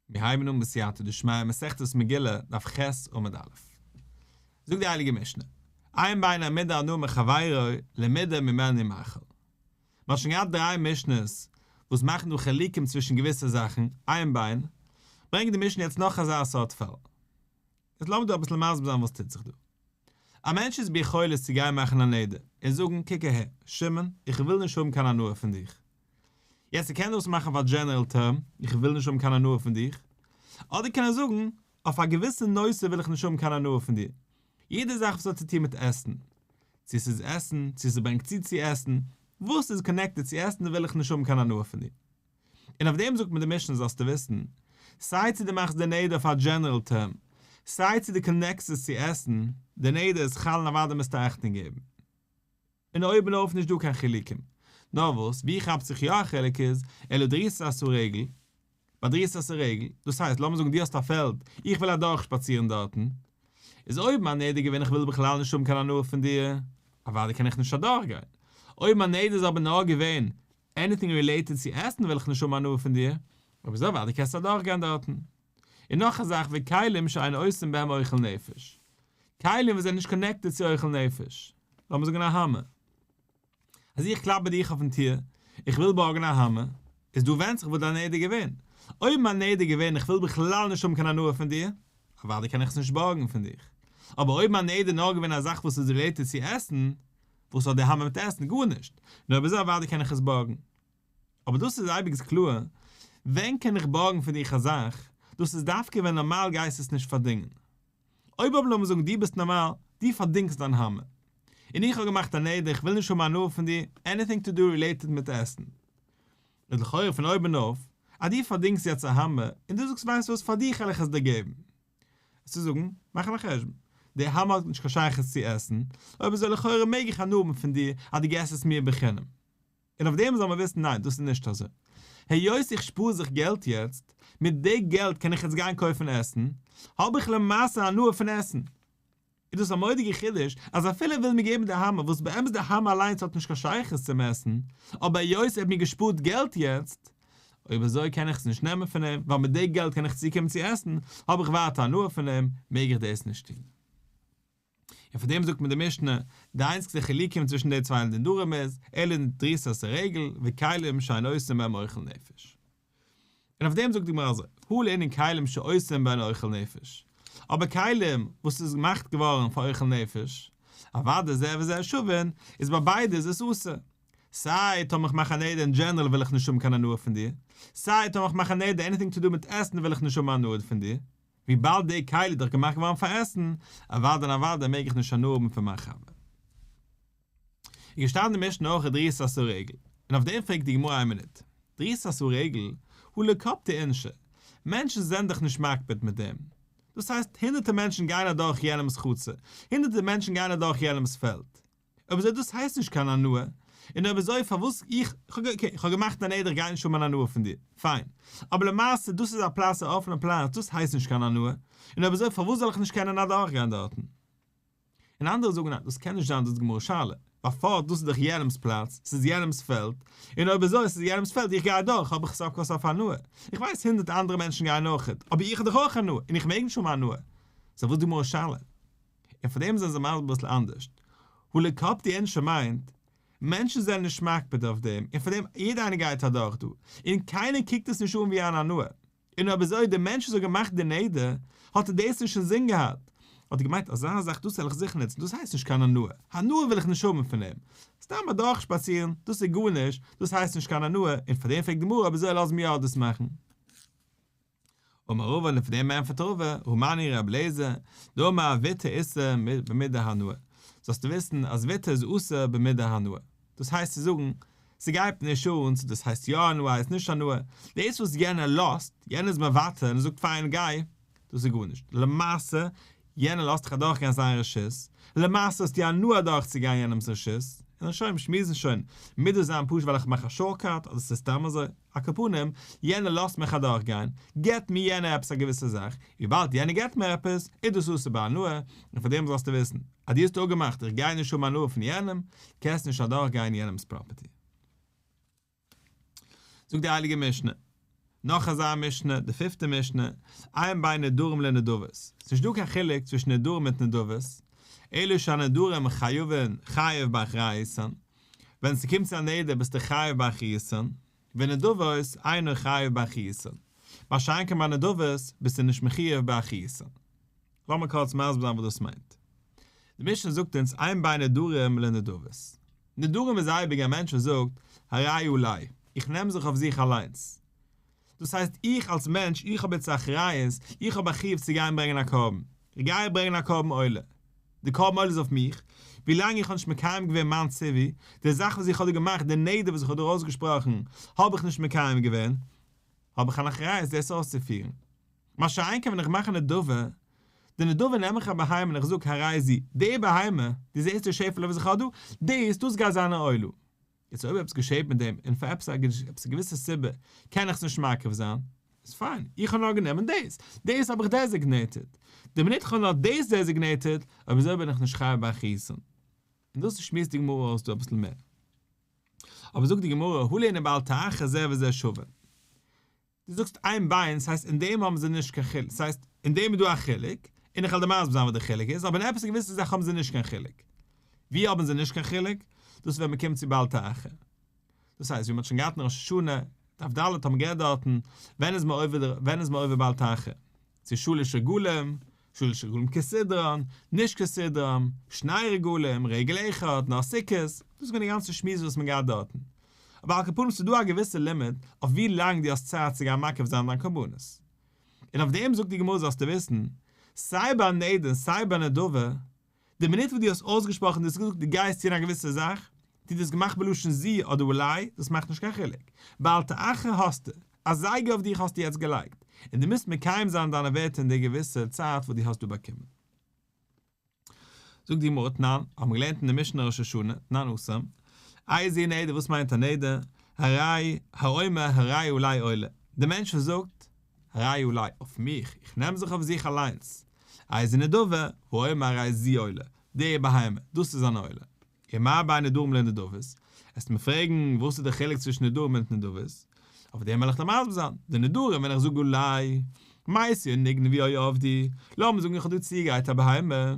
מיר הייבן אן בסייעתא דשמיא מסכת מגילה דף ח' עמוד א'. זאגט די הייליגע משנה, איין ביין העמיד האדם את חברו לעמידה ממעל ממאכל. מען האט שוין געהאט דריי משנות וואס מאכן דא חילוקים צווישן געוויסע זאכן, איין ביין, ברענגט די משנה יעצט נאך אזא סארט פאל. יעצט לאמיר דא אביסל מסביר זיין וואס טוט זיך דא. א מענטש איז ביכולת צו גיין מאכן א נדר און זאגן, קוק אהער, שמעון, איך וויל נישט האבן קיין הנאה פון דיך, יעצט איך קען דאס מאכן אויף א דזשענערעל טערם, איך וויל נישט האבן קיין הנאה פון דיר, אדער קען איך זאגן, אויף א געוויסע נושא וויל איך נישט האבן קיין הנאה פון דיר. יעדע זאך וואס האט צו טון מיט עסן. צו ס'איז עסן, צו ס'ברענגט צו צו עסן, וואס איז קאנעקטעד צו עסן וויל איך נישט האבן קיין הנאה פון דיר. און אויף דעם זאגט מיר די משנה זאלסטו וויסן, סיי צו דו מאכסט די נדר אויף א דזשענערעל טערם, סיי צו דו קאנעקסט עס צו עסן, די נדר איז חל און אוודאי מוזטו אכטונג געבן. און אויבן אויף נישט דא קיין חילוקים. נאר וואס, ווי כאפט זיך יא א חילוק איז, אלא דריסת הסורגל, ביי דריסת הסורגל, דאס הייסט, לאמיר זאגן דו האסט א פעלד, איך וויל אדורך שפאצירן דארטן, איז אויבן א נדר געווען איך וויל בכלל נישט האבן קיין הנאה פון דיר, אוודאי קען איך נישט אדורך גיין. אויבן א נדר איז אבער נאר געווען, עניטינג רילעיטעד צו עסן וויל איך נישט האבן הנאה פון דיר, אויב אזוי אוודאי קענסטו אדורך גיין דארטן. און נאך א זאך ווי כלים שאין עושים בהם אוכל נפש, כלים וואס זענען נישט קאנעקטעד צו אוכל נפש, לאמיר זאגן א האמער, אז איך קלאפ ביי דיך אויפן טיר, איך וויל בארגן א האמער, איז דא ווענדט זיך וואס דיין נדר געווען, אויב מיין נדר געווען איך וויל בכלל נישט האבן קיין הנאה פון דיר, אוודאי קען איך עס נישט בארגן פון דיך, אבער אויב מיין נדר נאר געווען א זאך וואס איז רילעיטעד צו עסן, וואס האט די האמער מיט עסן? גארנישט, נו אויב אזוי אוודאי קען איך עס בארגן. אבער דאס איז אייביג קלאר, ווען קען איך בארגן פאר דיך א זאך, דאס איז דווקא ווען נארמאל גייסטו עס נישט פארדינגען. אויב אבער לאמיר זאגן דו ביסט נארמאל, דו פארדינגסט דיין האמער, און איך האב געמאכט א נדר איך וויל נישט האבן הנאה פון דיר, עניטינג טו דו רילעיטעד מיט עסן, איז לכאורה פון אויבן אויף, אז דו פארדינגסט יעצט א האמער, און דו זאגסט ווייסט וואס פאר דיך העל איך עס דיר געבן. עס צו זאגן, מאכן א חשבון. די האמער האט נישט קיין שייכות צו עסן, אויב אזוי לכאורה מעג איך הנאה האבן פון דיר אז דו געסט עס מיר בחינם. און אויף דעם זאל מען וויסן ניין דאס איז נישט אזוי, היות איך שפאר זיך געלט יעצט, מיט די געלט קען איך יעצט גיין קויפן עסן, האב איך למעשה הנאה פון עסן. איז דאס א מורא'דיגע חידוש אז אפילו ער וויל מיר געבן די האמער, וואס באמת די האמער אליינס האט נישט קיין שייכות צום עסן, אבער היות ער האט מיר געשפארט געלט יעצט, אויב אזוי קען איך עס נישט נעמען פון אים, ווייל מיט די געלט קען איך צוקומען צו עסן, האב איך ווייטער הנאה פון אים, מעג איך דאס נישט טון. און פון דעם זאגט מיר די משנה, די איינציגסטע חילוקים צווישן די צוויי נדרים איז, אלה דריסת הרגל, וכלים שאין עושים בהם אוכל נפש. און אויף דעם זאגט די גמרא אזוי, הוא לענין כלים שעושים בהן אוכל נפש, אבער כלים וואס איז געמאכט געווארן פאר אוכל נפש, אוודאי זה וזה שווין, איז ביי ביידע איז עס אסור. סיי טאמער כ'מאך א נדר אין דזשענערל וויל איך נישט האבן קיין הנאה פון דיר, סיי טאמער כ'מאך א נדר עניטינג טו דו מיט עסן וויל איך נישט האבן הנאה פון דיר. וויבאלד די כלי איז דאך געמאכט געווארן פאר עסן, אוודאי און אוודאי מעג איך נישט הנאה האבן פון מיין חבר. איז געשטאנען אין משנה אויך א דריסת אסור עגל, און אויף דעם פרעגט די גמרא איין מינוט, דריסת אסור עגל, הוא לא קפדא אינשי, מענטשן זענען דאך נישט מקפיד מיט דעם, דאס הייסט הונדערטער מענטשן גייען אדורך יענעמ'ס חצר, הונדערטער מענטשן גייען אדורך יענעמ'ס פעלד, אויב אזוי דאס הייסט נישט קיין הנאה, און אויב אזוי פארוואס איך, אקעי איך האב געמאכט א נדר איך גיי נישט האבן אן הנאה פון דיר, פיין, אבער למעשה דאס איז א פלאץ א אפענע פלאץ דאס הייסט נישט קיין הנאה, און אויב אזוי פארוואס זאל איך נישט קענען אדורך גיין דארטן? און אנדערע זאגן ניין דאס קען נישט זיין דאס איז גמרא שאלה, ווייל פארט דאס איז דאך יענעמס פלאץ, ס'איז יענעמס פעלד, און אויב אזוי ס'איז יענעמס פעלד איך גיי אדורך האב איך סוף כל סוף הנאה, איך ווייס הונדערט אנדערע מענטשן גייען אויכעט, אבער איך האב דאך אויך הנאה, און איך מעג נישט האבן הנאה? סא וואס די גמרא שאלה? און פאר דעם זענען זיי מסביר אביסל אנדערשט. הליקאפטער ענטשער מיינט, מענטשן זענען נישט מקפיד אויף דעם, און פאר דעם יעדער איינער גייט אדורך דא, און קיינער קוקט עס נישט אן ווי אן הנאה. און אויב אזוי דער מענטש וואס האט געמאכט די נדר, האט ער דאס נישט אינזין געהאט, האט ער געמיינט אזא זאך דאס וועל איך זיכער נוצן, דאס הייסט נישט קיין הנאה, הנאה וויל איך נישט האבן פון אים. סתם אדורך שפאצירן, דאס איז גארנישט, דאס הייסט נישט קיין הנאה, און פאר דעם פרעגט די גמרא אויב אזוי לאזן מיר אלעס מאכן. אמר רבא און אויף דעם ענטפערט רבא, הומני ר' אליעזר, דאמר א וויטער איסר במידה הנאה, זאלסטו וויסן אז וויטער איז אסור במידה הנאה, דאס הייסט צו זאגן, ס'גייט נישט אן צו דאס הייסט יא הנאה הייסט נישט הנאה, דאס וואס יענער לאזט, יענער איז מוותר און ער זאגט פיין גיי, דאס איז גארנישט, למעשה יענער לאזט דיך אדורכגיין זיין רשות, למעשה האסטו הנאה אדורכצוגיין יענעמ'ס רשות, און שוין, מיר שמועסן שוין, מידות זיין פשוט ווייל איך מאך א שארטקאט אדער ס'איז סתם אזוי. א כּפּנים, יענער לאָזט מיך אַדורכגיין, גיט מיר יענער עפּעס אַ געוויסע זאַך, וויבאַלד יענער גיט מיר עפּעס, איז דאָס אָסור בהנאה, און פֿאַר דעם זאָלסטו וויסן, אַז דו האָסט אָפּגעמאַכט, איך גיי נישט האָבן הנאה פֿון יענעם, קענסט נישט אַדורכגיין יענעמס פּראָפּערטי. זאָגט די הייליגע משנה, נאָך אַזאַ משנה, די פֿופֿטע משנה, עיין בין נדרים לנדבות, ס'איז נישטאָ קיין חילוק צווישן נדרים מיט נדבות, אלא שהנדרים חייבֿים חייבֿ באַחריותן, ווען ס'קומט צו א נדר ביסטו חייב ביי חיסרון, ונדבות אינו חייב ביי חיסרון, מה שאין כן ביי נדבות ביסטו נישט מחיוב ביי א חיסרון. לאמיר קורץ מסביר זיין וואס דאס מיינט. די משנה זאגט אונז אין בין נדרים לנדבות. נדרים איז אייביג א מענטש וואס זאגט הריי אליי, איך נעם זיך אויף זיך אליינס. דאס הייסט איך אלס מענטש, איך האב יעצט א אחריות, איך האב א חיוב צו גיין ברענגען א קרבן, איך גיי ברענגען א קרבן עולה, די קרבן עולה איז אויף מיך, ווילאנג איך האב נישט מקיים געווען מיין ציווי, די זאך וואס איך האב דיר געמאכט, די נדר וואס איך האב דיר אויסגעשפראכן, האב איך נישט מקיים געווען, האב איך אן אחריות דאס אויסצופירן. מה שאין כן ווען איך מאך א נדבה, די נדבה נעם איך א בהמה און איך זאג הרי זי, די בהמה, די זעסט די שעפעלע וואס איך האב דא, דאס, דאס גייט זיין א עולה. יעצט אויב עפעס געשעהט מיט דעם און פאר עפעס א געוויסע סיבה קען איך עס נישט מקריב זיין, איז פיין, איך האב נאר גענומען דאס, דאס האב איך דעזיגנעיטעד, די מינוט איך האב נאר דאס דעזיגנעיטעד, אויב אזוי בין איך נישט חייב ביי חיסון, און דאס שמועסט די גמרא אויס דא אביסל מער. אבער זאגט די גמרא, הלענה באל תאחה זה וזה שווה. דו זאגסט איין ביין, ס'הייסט אין דעם האבן זיי נישט קיין חילוק, ס'הייסט אין דעם איז דא א חילוק, און איך העל דיר מסביר זיין וואס די חילוק איז, אבער אין עפעס געוויסע זאכן האבן זיי נישט קיין חילוק. ווי האבן זיי נישט קיין חילוק? דאס איז ווען מען קומט צו בל ת אחר. דאס הייסט, ווי מ'האט שוין געהאט אין ראש השנה, דף ד' האט מען גערעדט דארטן, ווען איז מען עובר, ווען איז מען עובר בל ת אחר? צו שלש רגלים, שלש רגלים כסדרן, נישט כסדרם, שני רגלים, רגל אחד, נאר סוכות, דאס איז געווען די גאנצע שמועס וואס מען געהאט דארטן. אבער על כל פנים ס'איז דא א געוויסע לימיט אויף ווי לאנג דו האסט צייט צו גיין מקריב זיין דיין קרבנות. און אויף דעם זאגט די גמרא זאלסטו וויסן, סיי ביי נדה און סיי ביי נדבה, די מינוט וואס דו האסט אויסגעשפראכן דאס געזאגט דו גייסט טון א געוויסע זאך, טו דאס געמאכט בלשון זי אדער אולי, דאס מאכט נישט קיין חילוק. בעל ת אחר האסטו, א זייגער אויף דיך האסטו יעצט געלייגט, און דו מוזט מקיים זיין דיינע ווערטער אין די געוויסע צייט וואס דו האסט דא באקומען. זאגט די גמרא תנן, האט מען געלערנט אין די משנה ראש השנה, תנן עשרים, איה זי נדר וואס מיינט א נדר, הראי האומר הראי אולי עולה, די מענטש וואס זאגט, ראי' אולי אויף מיך, איך נעם זיך אויף זיך אליינס. איי זה נדבה, ראי' מהראי' זי עולה, די בהמה, דאס איז אן עולה. און מה בין נדרים לנדבות? עסט מיר פרעגן וואס איז דער חילוק צווישן נדרים און התנדבות? אויף דעם וועל איך דיר מסביר זיין, די נדרים ווען איך זאג אולי, מאי עשיה נגנבי אוי עבדי, לאמיר זאגן איך האב דיר צוגעגרייט א בהמה,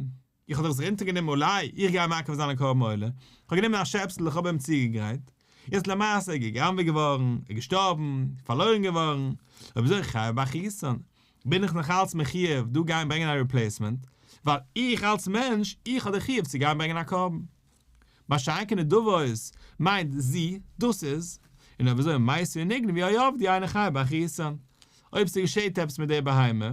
איך האב דאך זיך אונטערגענומען אולי איך גיי מקריב זיין א קרבן עולה, איך האב גענומען א שעפסל איך האב אים צוגעגרייט, יעצט למעשה ער איז גע'גנב'עט געווארן, ער איז געשטארבן, פארלוירן געווארן, אויב אזוי איך חייב באכיסען, בין איך נאך אלץ מחיוב דא גיין ברענגען א ריפלעיסמענט, ווייל איך אלץ מענטש איך האב די חיוב צו גיין ברענגען א קרבן. באשיינקע נדבות מיינט זי, דאס איז, און אויב אזוי מעשה ונגנב ווי אויף די איינע חייב באכיסען, אויב ס'געשעהט עפעס מיט די בהמה,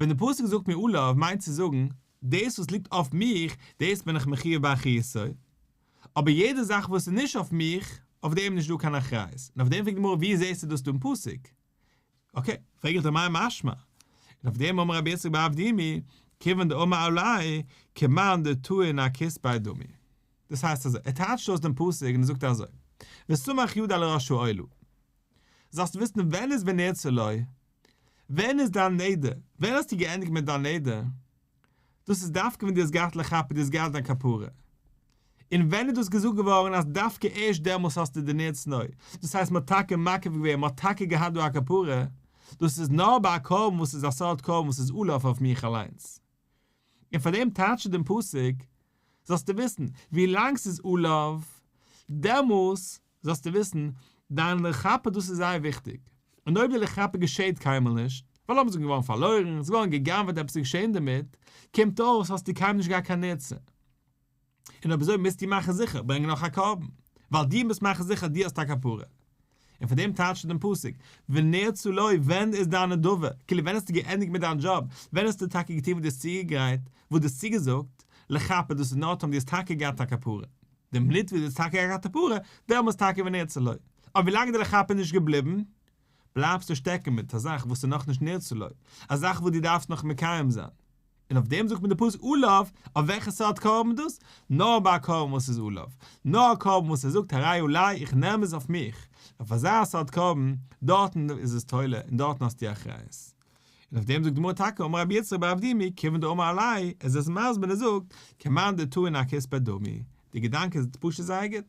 ווען די פסוק זאגט מי עליו מיינט צו זאגן, דאס וואס ליגט אויף מיך, דאס בין איך מחיוב באחריותו, אבער יעדע זאך וואס איז נישט אויף מיך, אויף דעם איז נישט דא קיין אחריות, און אויף דעם פרעגט די גמרא ווי זעסטו דאס דא אין פסוק? אקעי, פרעג איך דיר מאי משמע? און אויף דעם אמר רבי יצחק באב ד מי כיוון דאמר אולי כמאן דתו אין הכיס ביי דמי. דאס הייסט אזוי, ער טייטשט אויס דעם פסוק און ער זאגט אזוי, וסמך יד על ראשו אולי זאלסטו וויסן ווען איז ונרצה לו, ווען איז דיין נדר? ווען האסטו געענדיגט מיט דיין נדר? דאס איז דווקא ווען דו האסט געהאט לכפה, דו האסט געהאט דיין כפרה. און ווען איז דאס געזאגט געווארן אז דווקא ערשט דעמאלס האסטו די נר צנוע? דאס הייסט מ'האט טאקע מקריב געווען, מ'האט טאקע געהאט דא א כפרה, דאס איז נאר ביי א קרבן וואס איז א סארט קרבן וואס איז עלוב אויף מיך אליינס. און פאר דעם טייטשט דעם פסוק, זאלסטו וויסן, ווי לאנג ס'איז עלוב, דעמאלס זאלסטו וויסן, דיין לכפר דאס איז זייער וויכטיג, און אויב די לכפר געשעהט קיינמאל נישט, ווייל אויב עס איז געווארן פארלוירן, עס איז געווארן גע'גנב'עט עפעס איז געשעהן דערמיט, קומט אויס האסטו קיינמאל נישט געהאט קיין עצה. און אויב אזוי מוזטו מאכן זיכער ברענגען נאך א קרבן, ווייל דו מוזט מאכן זיכער אז דו האסט א כפרה. און פון דעם טייטשט ער דעם פסוק, ונרצו לו, ווען איז דיין נדבה, כאילו ווען האסטו געענדיגט מיט דיין דזשאב, ווען האסטו טאקע געטון וואס דו האסט צוגעגרייט, וואס דו האסט צוגעזאגט, לכפר דאס איז נאר טאמער דו האסט טאקע געהאט א כפרה. דעם ליטוואק זיצט טאקע א כתפרה, דעמאלס טאקע ווען נרצה לו. אבער ווילאנג די לכהפ איז נישט געבליבן, בלייבסטו שטעקן מיט א זאך וואס איז נאכנישט נרצה לו, א זאך וואס דו דארפסט נאך מקיים זיין. און אויף דעם זאגט מען די פסוק עולב, אויף וועלכע סארט קרבן דאס? נאר ביי א קרבן וואס איז עולב. נאר א קרבן וואס ער זאגט הרי עולי, איך נעם עס אויף מיך. אויף אזא סארט קרבן, דארטן איז עס תולה און דארטן האסטו אחריות. און אויף דעם זאגט די גמרא טאקע אמר רבי יצחק בר אבדי מ כיוון דאמר אלי' עס איז עס מסביר און ער זאגט כמאן דתו אינה כספא דמי די געדאנק איז פשוט זייער גוט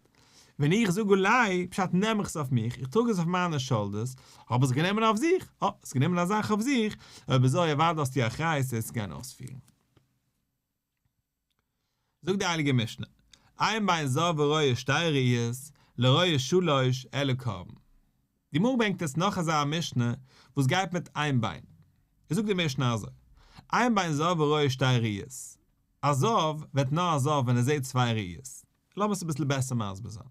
ווען איך זאג אלי' פשט נעם איך עס אויף מיך איך טראג עס אויף מיינע שאלדערס האב איך עס גענומען אויף זיך אה האסט גענומען א זאך אויף זיך אויב אזוי אוודאי האסטו אחריות עס צו גיין אויספירן. זאגט די הייליגע משנה, איין ביין זאב וראיה שתי ראיות, לראיה שלוש, אלא קרבן. די גמרא ברענגט עס נאך אזא משנה וואס גייט מיט איין ביין. עס זאגט די משנה אזוי, איין ביין זאב וראיה שתי ראיות, א זאב ווערט נאר א זאב ווען ער זעט צוויי ראיות. לאמיר עס אביסל בעסער מסביר זיין.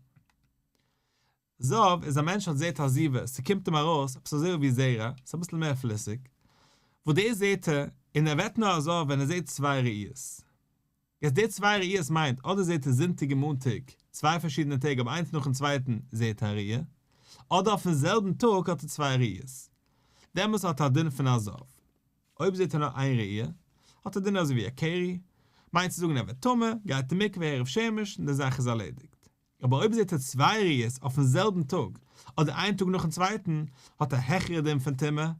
זהב איז א מענטש האט זעהט א זיווה, ס'קומט אים ארויס עפעס אזוי ווי זרע, ס'איז אביסל מער פליסיג, וואס דאס זעהט ער, און ער ווערט נאר אזוי ווען ער זעהט צוויי ראיות. יעצט די צוויי ראיות מיינט אדער זעהט ער זונטאג און מאנטאג, צוויי פארשידענע טעג אבער איינס נאכן צווייטן זעהט ער א ראי', אדער אויפן זעלבן טאג האט ער צוויי ראיות, דעמאלטס האט ער א דין פון א זהב. אויב זעהט ער נאר איין ראי', האט ער דין אזוי ווי א קרי, מיינט צו זאגן ער ווערט טמא, גייט אין מקווה ערב שמש און די זאך איז ארלעדיגט. אבער אויב זעהט ער צוויי ראיות אויפן זעלבן טאג אדער איין טאג נאכן צווייטן האט א העכערע דין פון טומאה,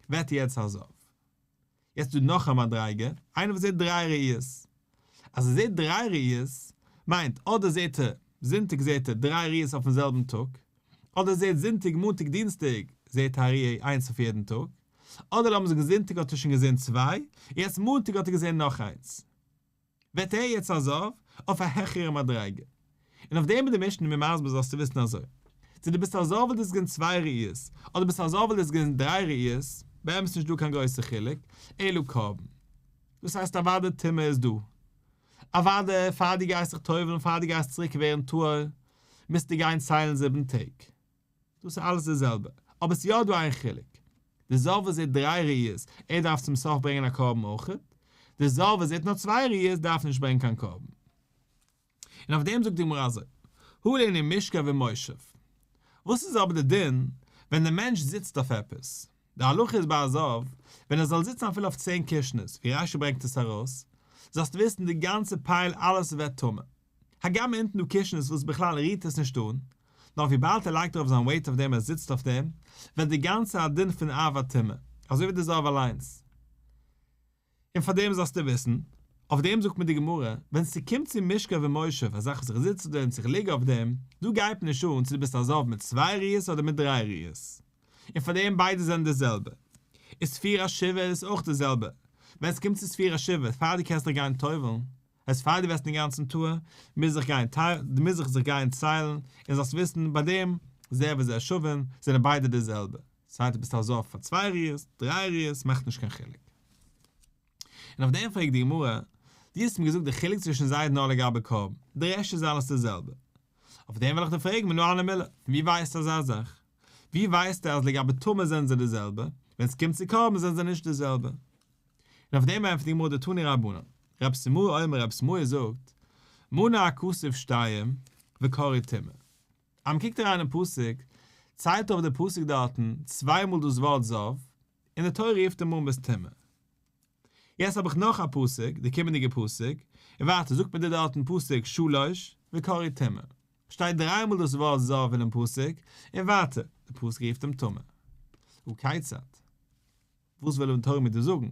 ווערט ער יעצט האזאוו. יעצט איז דא נאך א מדריגה, איינער וואס זעהט דריי ראיות. אז ער זעהט דריי ראיות, מיינט אדער זעהט ער זונטאג זעהט ער דריי ראיות אויפן זעלבן טאג, אדער ער זעהט זונטאג מאנטאג דינסטאג זעהט א ראי' איינס אויף יעדן טאג, אדער לאמיר זאגן זונטאג האט ער שוין געזעהן צוויי, יעצט מאנטאג האט ער געזעהן נאך איינס. ווערט ער יעצט א זאב אויף א העכערע מדריגה, און אויף דעם איז די משנה מיר מסביר זאלסטו וויסן אזוי, צו דו ביסט א זאב וויל דאס געבן צוויי ראיות, אדער ביסט א זאב וויל דאס געבן דריי ראיות, באמת נישט דא קיין גרויסע חילוק, אלא קרבן. דאס הייסט אוודאי טומאה איז דא. אוודאי פאר דו גייסט זיך טובל'ן פאר דו גייסט צוריק ווערן טהור, מוזטו גיין ציילן זיבן טעג. דאס איז אלעס די זעלבע, אבער עס איז יא דא איין חילוק, די זאל וואס זעט דריי ראיות, ער דארף צום סוף ברענגען א קרבן אויך, די זאל וואס זעט נאר צוויי ראיות דארף נישט ברענגען קיין קרבן. און אויף דעם זאגט די גמרא אזוי, הא לעני משכב ומושב. וואס איז אבער די דין ווען די מענטש זיצט אויף עפעס? די הלכה איז ביי א זאב, ווען ער זאל זיצן אפילו אויף צען קישנערס, ווי רשי ברענגט עס ארויס, זאלסטו וויסן די גאנצע פייל אלעס ווערט טמא. הגם אונטן דא קישענעס וואס בכלל רירט עס נישט אן, נאר וויבאלד ער לייגט ארויף זיין וועיט אויף דעם און ער זיצט אויף דעם, ווערט די גאנצע א דין פון אב א טומאה, אזוי ווי די זהב אליינס. און פאר דעם זאלסטו וויסן, אויף דעם זאגט מיר די גמרא, ווען ס'קומט צו משכב ומושב, א זאך וואס איך זיץ אויף דעם צו איך ליג אויף דעם, דא גייט מיר נישט אן צו דו ביסט א זהב מיט צוויי רירס אדער מיט דריי רירס, און פאר דעם ביידע זענען די זעלבע. איז ספירה שבע איז אויך די זעלבע, ווען ס'קומט צו ספירה שבע, פאר דו קענסט דיך גיין טובל'ן, עס פאר דו וועסט אינגאנצן טועה, מוז זיך גיין טיילן, דו מוז זיך זיך גיין ציילן, און זאלסט וויסן ביי דעם, זה וזה שווים, זענען ביידע די זעלבע, סיי דו ביסט א זב פאר צוויי ריאות, דריי ריאות, מאכט נישט קיין חילוק. און אויף דעם פרעגט די גמרא, דו האסט מיר געזאגט די חילוק צווישן זיידן נאר לגבי קרבן, די רעשט איז אלעס די זעלבע. אויף דעם וועל איך דיר פרעגן מנא אנא מילי, פון ווי ווייסטו אזא זאך? ווי ווייסטו אז לגבי טומאה זענען זיי די זעלבע, ווען עס קומט צו קרבן זענען זיי נישט די זעלבע? און אויף דעם ענטפערט די גמרא די תני רבנן, רב שמואל אומר רב שמואל זאגט, מנה הכסף שתיים וקרי טמא. אז מען קוקט אריין אין פסוק, ציילט אויף די פסוק דארטן צוויי מאל דאס ווארט זב, און די תורה רופט אים אן ביסט טמא. יעצט האב איך נאך א פסוק, די קומענדיגע פסוק, און ווייטער זאגט מען דיר דארט אין פסוק שלש וקרי טמא. שטייט דריי מאל דאס ווארט זב אינעם פסוק, און ווייטער, די פסוק רופט אים טמא. הכיצד? וואס וויל די תורה מיר דא זאגן?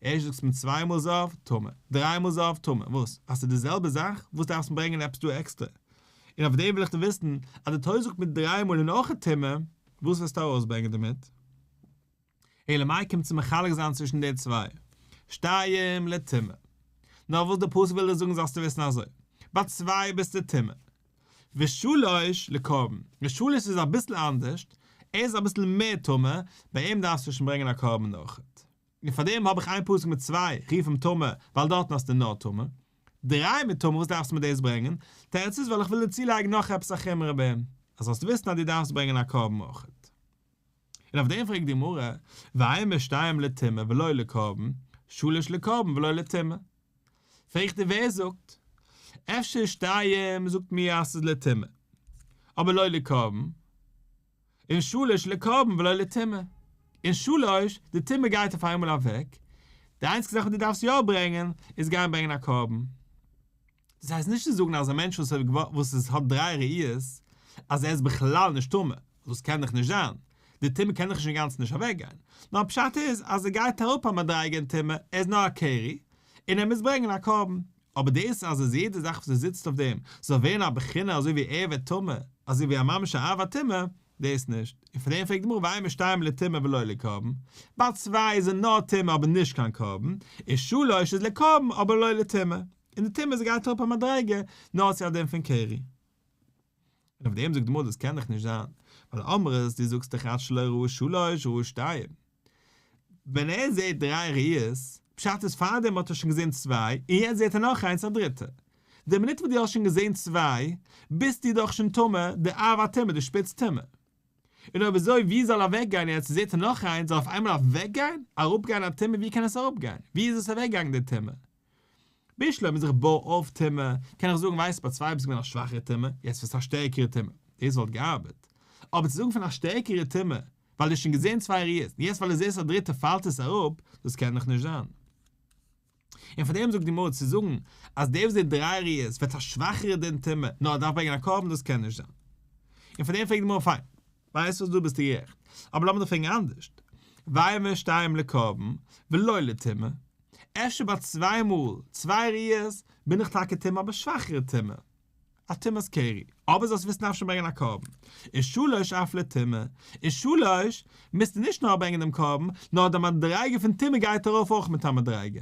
ערשט זאגסטו מיר צוויי מאל זהב, טמא, דריי מאל זהב, טמא, וואס? אז ס'איז די זעלבע זאך, וואס דארפסט מיר ברענגען עפעס דא עקסטער? און אויף דעם וויל איך דיר וויסן, אז די תורה זאגט מיר דריי מאל און אויך א טמא, וואס וועסטו ארויסברענגען דערמיט? אלא מאי קומט צו מחלק זיין צווישן די צוויי, שתיים לטמא. נאר וואס די פסוק וויל דיר זאגן זאלסטו וויסן אזוי, ביי צוויי ביסטו טמא, ושלוש לקרבן, ר' שלוש איז אביסל אנדערשט, ער איז אביסל מער טמא, ביי אים דארפסטו שוין ברענגען א קרבן אויכעט. און פאר דעם האב איך איין פסוק מיט צוויי, רוף אים טמא, ווייל דארטן האסטו נאר טמא. דריי מיט טמא, וואס דארפסטו מיט דאס ברענגען? תירוץ איז ווייל איך וויל דיר צולייגן נאך עפעס א חומרא ביי אים, אז זאלסט וויסן אז דו דארפסט ברענגען א קרבן אויכעט. און אויף דעם פרעגט די גמרא, והי' משתיים לטומאה ולא לקרבן, שלש לקרבן ולא לטומאה. פרעגט איר ווער זאגט, אפשר שתיים זאגט מיר אז ס'איז לטומאה, אבער לא לקרבן, און שלש לקרבן ולא לטומאה, און שלש, די טומאה גייט אויף איינמאל אוועק, די איינציגסטע זאך וואס דו דארפסט יא ברענגען, איז גיין ברענגען א קרבן. דאס הייסט נישט צו זאגן אז א מענטש וואס איז האט דריי ראיות אז ער איז בכלל נישט טמא, ווייל דאס קען דאך נישט זיין, די טומאה קען דאך נישט אינגאנצן נישט אוועק גיין, נאר פשט איז אז ער גייט אראפ א מדריגה אין טומאה, ער איז נאר א קרי, און ער מוז ברענגען א קרבן. אבער דאס אז אז יעדע זאך וואס ער זיצט אויף דעם זאל ווערן א בחינה אזוי ווי ער ווערט טמא, אזוי ווי א ממש א אב הטומאה, דאס נישט, און פאר דעם פרעגט די גמרא ואין משתיים לטומאה ולא לקרבן, ווייל צוויי זענען נאר טומאה אבער נישט קיין קרבן, און שלש איז לקרבן אבער לא לטומאה. און די טעמע זי גייט אראפ א מדריגה נאר צו א דין פון קרי. און אויף דעם זאגט די גמרא דאס קען דאך נישט זיין, ווייל אמרת דו זאגסט דאך אז שלא ראו שלוש ראו שתיים. ווען ער זעהט דריי ראיות, פשט איז פארדעם האט ער שוין געזעהן צוויי, און יעצט זעהט ער נאך איינס א דריטע. די מינוט וואס דו האסט שוין געזעהן צוויי, ביסטו דאך שוין טמא, די אב א טמא, די שפיץ טמא. און אויב אזוי ווי זאל אוועק גיין יעצט זעהט ער נאך איינס, זאל אויף איינמאל אוועק גיין, אראפ גיין א טמא ווי קען עס אראפ גיין? ווי איז עס אוועק געגאנגען די טמא? בשלב מען זיך בוי אויף טעמע, קען איך זאגן ווייסט ביי צוויי ביסט געווען א שוואכערע טעמע, יעצט ביסטו א שטערקערע טעמע, דאס וואלט געארבעט. אבער צו זאגן פון א שטערקערע טעמע, ווייל דו האסט שוין געזען צוויי ראיות, און יעצט ווייל דו זעסט א דריטע פאלט עס אראפ, דאס קען דאך נישט זיין. און פאר דעם זאגט די גמרא, צו זאגן אז דער וואס זעט דריי ראיות ווערט א שוואכערע דעם טעמע, נאר ער דארף ברענגען א קרבן דאס קען נישט זיין. און פאר דעם פרעגט די גמרא פיין. ווייסט וואס דא ביסטו גערעכט, אבער לאמיר דאך פרעגן אנדערש, ווייל מיר שטייען לקרבן ולא לטומאה, אפשר ביי צוויי מאל צוויי ריאות בין איך טאקע טמא אבער שוואכערע טומאה, א טומאת קרי, אבער זאלסט וויסן אפשר ברענגען א קרבן, און שלש אף לטומאה, און שלש מוזטו נישט נאר ברענגען דעם קרבן, נאר די מדריגה פון טומאה גייט ארויף אויך מיט א מדריגה.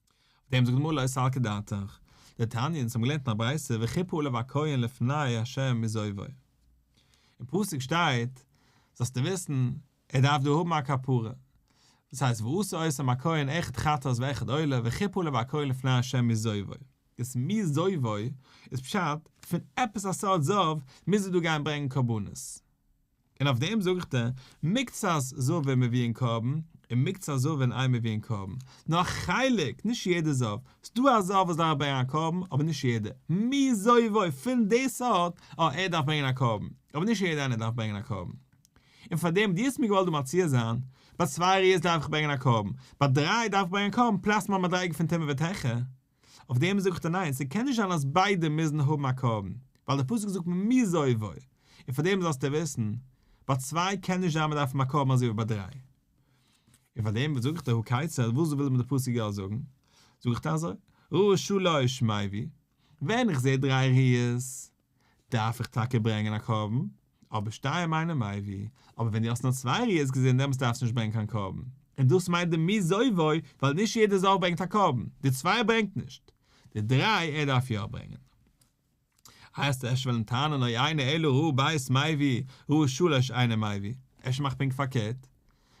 אויף דעם זאגט די גמרא לא יסלקה דעתך, די תניא און אונז האבן געלערנט אין א ברייתא וכיפור לב הכהן לפני השם מזויפו, אין פסוק שטייט זאלסטו וויסן ער דארף דא האבן א כפרה, דאס הייסט ועשה עשם הכהן אחד חטאת ואחד עולה וכיפור לב הכהן לפני השם מזויפו, דאס מזויפו איז פשט פון עפעס א סארט זאב מוז ער דא גיין ברענגן קרבנות. און אויף דעם זאגט ער, מקצת זאב מביאין אין קרבן, און מקצת זאב אין איין מביאין אין קרבן, נאר א חלק, נישט יעדע זאב, ס'דא א זאב וואס דארף ברענגען א קרבן, אבער נישט יעדע, מי זובו, פון די סארט, אה, ער דארף ברענגען א קרבן, אבער נישט יעדע איינער דארף ברענגען א קרבן. און פאר דעם האט יעצט מיר געוואלט דא מציע זיין, ביי צוויי ראיות דארף איך ברענגען א קרבן, ביי דריי דארף איך ברענגען א קרבן פלאס מיין מדריגה פון טמא וטהרה, אויף דעם זאגט ער ניין, ס'קען נישט זיין אז ביידע מוזן האבן א קרבן, ווייל דער פסוק זאגט ממי זויבו, און פאר דעם זאלסטו וויסן, ביי צוויי קען נישט זיין מען דארף האבן א קרבן אזוי ווי ביי דריי. און פאר דעם זאגט ער הכיצד, וואס וויל מיר דער פסוק יא זאגן? זאגט ער אזוי, ראה שלא אשמעו, ווען איך זע דריי ראיות, דארף איך טאקע ברענגען א קרבן, אבער שתיים אינם מביא, אבער ווען דו האסט נאר צוויי ראיות געזען דעמאלטס דארפסטו נישט ברענגען קיין קרבן, און דאס מיינט די מי זויבו, ווייל נישט יעדע זאך ברענגט א קרבן, די צוויי ער ברענגט נישט, די דריי ער דארף יא ברענגען. הייסט עס אפשר וועלן טענה'ן אוי איינער אלא ראה בית מביא, ראה שלש אינם מביא, אפשר מאך פונקט פארקערט,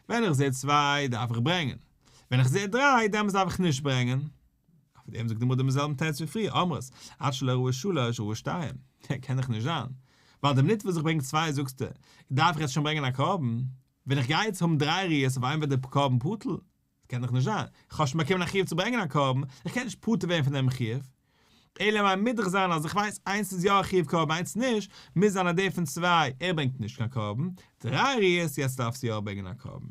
ווען איך זעה צוויי דארף איך ברענגען, ווען איך זעה דריי דעמאלטס דארף איך נישט ברענגען. אויף דעם זאגט די גמרא דעם זעלבן תירוץ ווי פריער, אמרת, עד שלא ראו שלש ראו שתיים, דער קען דאך נישט זיין, ווייל די מינוט וואס איך ברענג צוויי זאגסטו, דארף איך יעצט שוין ברענגען א קרבן, ווען איך גיי יעצט האבן דריי ראיות אויף איין ווערט דער קרבן בטל, קען דאך נישט זיין, איך האב שוין באקומען א חיוב צו ברענגען א קרבן, איך קען נישט פטור ווערן פון דעם חיוב, אלא מאי מוז דאך זיין אז איך ווייס איינס איז יא א חיוב קרבן איינס נישט, מוז זיין אז דער פון צוויי, ער ברענגט נישט קיין קרבן, דריי ראיות יעצט דארפסטו יא ברענגען א קרבן.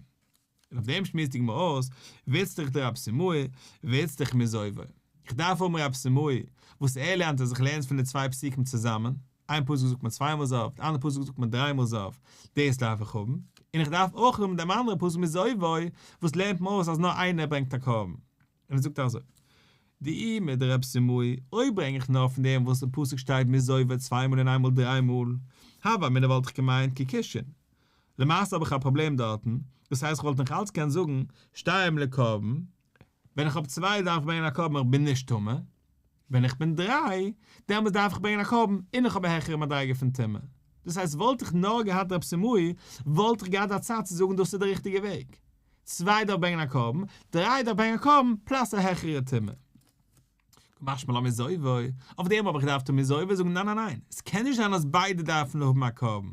און אויף דעם שמועסט די גמרא אויס, ווילסט דיך די רב סימאי, ווילסט דיך מזויווי. איך דארף האבן רב סימאי, וואס ער לערנט אז איך לערן פון די צוויי פסוקים צוזאמען, איין פסוק זאגט מען צוויי מאל זויף, די אנדערע פסוק זאגט מען דריי מאל זויף, דאס דארף איך האבן, און איך דארף אויך האבן דעם אנדערן פסוק מזויווי, וואס לערנט מען אויס אז נאר איינער ברענגט א קרבן. און ער זאגט אזוי, די אי מיט די רב סימאי, אויב ברענג איך נאר פון דעם וואס אין פסוק שטייט מי זויבער צוויי מאל און איינמאל דריי מאל, הווא אמינא וואלט איך געמיינט כקישין. למעשה האב איך א פראבלעם דארטן, דאס הייסט כ'וואלט נאך אלץ קענען זאגן שתיים לקרבן, ווען איך האב צוויי דארף איך ברענגען א קרבן איך בין נישט טמא, ווען איך בין דריי, דעמאלס דארף איך ברענגען א קרבן, און איך האב א העכערע מדריגה פון טומאה. דאס הייסט וואלט איך נאר געהאט רב שמואל, וואלט איך געהאט א צד צו זאגן דאס איז די ריכטיגע וועג. צוויי דארף ברענגען א קרבן, דריי דארף ברענגען א קרבן פלאס א העכערע טומאה. משמע לא מזויבו, אויף דעם האב איך געדארפט טון מזויבו, זאגן ניין ניין ניין, עס קען נישט זיין אז ביידע דארפן האבן א קרבן.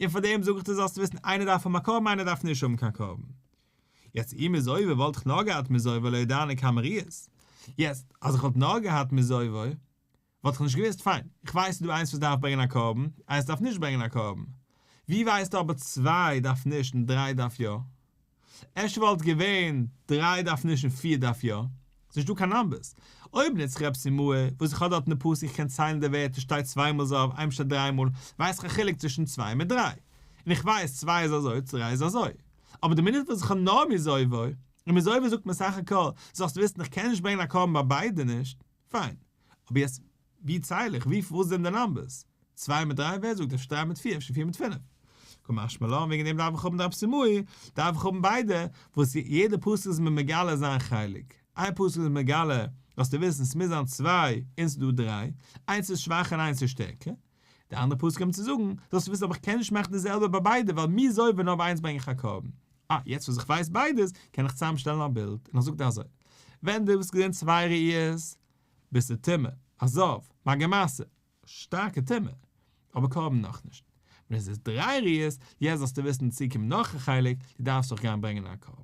און פאר דעם זאג איך דיר זאלסט וויסן איינער דארף האבן א קרבן איינער דארף נישט האבן קיין קרבן. יעצט אי מזויווי וואלט איך נאר געהאט מזויווי לויט דיינע קאמעריעס, יעצט אז איך וואלט נאר געהאט מזויווי וואלט איך נישט געוויסט, פיין איך ווייס ס'דא איינס וואס דארף ברענגען א קרבן, איינס דארף נישט ברענגען א קרבן, ווי ווייסטו אבער צוויי דארף נישט און דריי דארף יא? אפשר וואלט געווען דריי דארף נישט און פיר דארף יא? ס'נישט דא קיין נאמבערס, אויב נוץ איך עפעס אין מאה וואס איך האב דארט אין די פסוק איך קען ציילן די ווערטער שטייט צוויי מאל זהב איינמאל שטייט דריי מאל ווייס איך א חילוק צווישן צוויי מיט דריי, און איך ווייס צוויי איז אזוי צו דריי איז אזוי. אבער די מינוט וואס איך האב נאר מיזויווי און מיזויווי זאגט מען סך הכל זאלסטו וויסן איך קען נישט ברענגען א קרבן ביי ביידע נישט, פיין, אבער יעצט ווי ציל איך, ווי וואס זענען די נאמבערס, צוויי מיט דריי ווער זאגט אפשר דריי מיט פיר אפשר פיר מיט פינף, כמשמע לן וועגן דעם דארף איך האבן די אבסימאי, דארף איך האבן ביידע, וואס יעדע פסוק איז מיר מגלה זיין חלק, איין פסוק איז מגלה זאלסטו וויסן ס'מוז זיין צוויי און ס'דא דריי, איינס איז שוואכער און איינס איז שטערקער, די אנדערע פסק האבן צו זאגן, זאלסטו וויסן אבער איך קען נישט מאכן די זעלבע ביי ביידע ווייל מי זאל ווען נאר ביי איינס ברענג איך א קרבן. אה, יעצט וואס איך ווייס ביידעס קען איך צוזאם שטעלן א בילד, און איך זאג דיר אזוי, ווען דו וואלסט געזען צוויי ראיות ביסטו טמא, אזאוו, מאגא מעשה, שטארקע טומאה, אבער קרבן נאכנישט. ווען עס איז דריי ראיות, יעצט זאלסטו וויסן צוקומט נאך א חלק, דו דארפסט אויך גיין ברענגען א קרבן.